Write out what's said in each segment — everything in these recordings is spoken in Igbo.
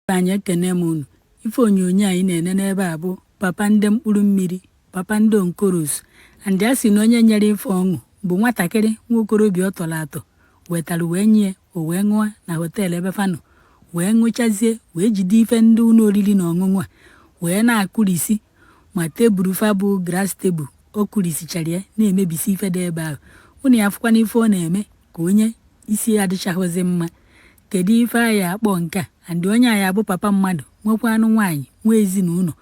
anyị ekene m unu ife onyonyo anyị na-ene n'ebe a bụ papa ndị mkpụrụ mmiri papa ndị on colos and a sị na onye nyere ife ọṅụ bụ nwatakịrị nwa okorobịa ọ tọrọ atọ wetara wee nye o wee ṅụọ na họteelụ ebe fa nọ wee ṅụchazie wee jide ife ndị ụlọ oriri na ọṅụṅụ a wee na-akụrisi ma tebụl fa bụ glass tebụl ọ kụrisichara ya na-emebisi ife dị ebe ahụ unu afụkwana ife ọ na-eme ka onye isi adịchaghịzi mma Kedu ife a ya-akpọ nke a? And onye a bụ papa mmadụ, nwekwanụ nwaanyị, nwe ezinụlọ.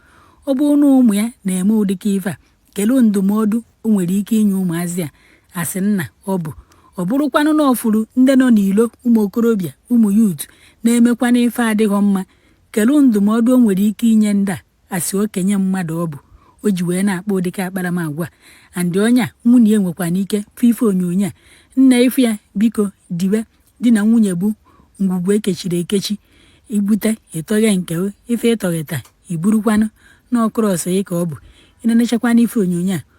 Ọ bụrụ na ụmụ ya na-eme ụdịka ife a, kedu ndụmọdụ o nwere ike inye ụmụazị a a sị nna ọ bụ? Ọ bụrụkwanụ na ọ fụrụ ndị nọ n'ilo ụmụ okorobịa, ụmụ youth na-emekwanụ ife adịghọ mma, kedu ndụmọdụ o nwere ike inye ndị a? a sị okenye mmadụ ọ bụ o ji wee na-akpa ụdịka akparamagwa and onye a nwunye ya nwekwana ike fụ ife onyonyo a nna ị fụ ya biko diwe di na nwunye bụ ngwugwu e kechiri ekechi i bute ị tọghee nke o, ife ị tọgheta i burukwanụ na ọkụrụ ọsọ ya ka ọ bụ i nenechakwana ife onyonyo a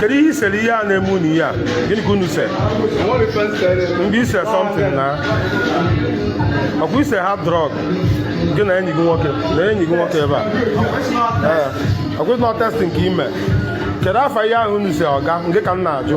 kedu ihe i sere ihe a na-eme unu ihe a gịnị ka unu se mgbe i se something now ọ kwa i se hard drug gị na enyi gị nwoke na enyi gị nwoke ebe a ee ọ kwa ị sị na ọ testing ka i me kedu afa ihe ahụ unu se ọga ngị ka m na-ajụ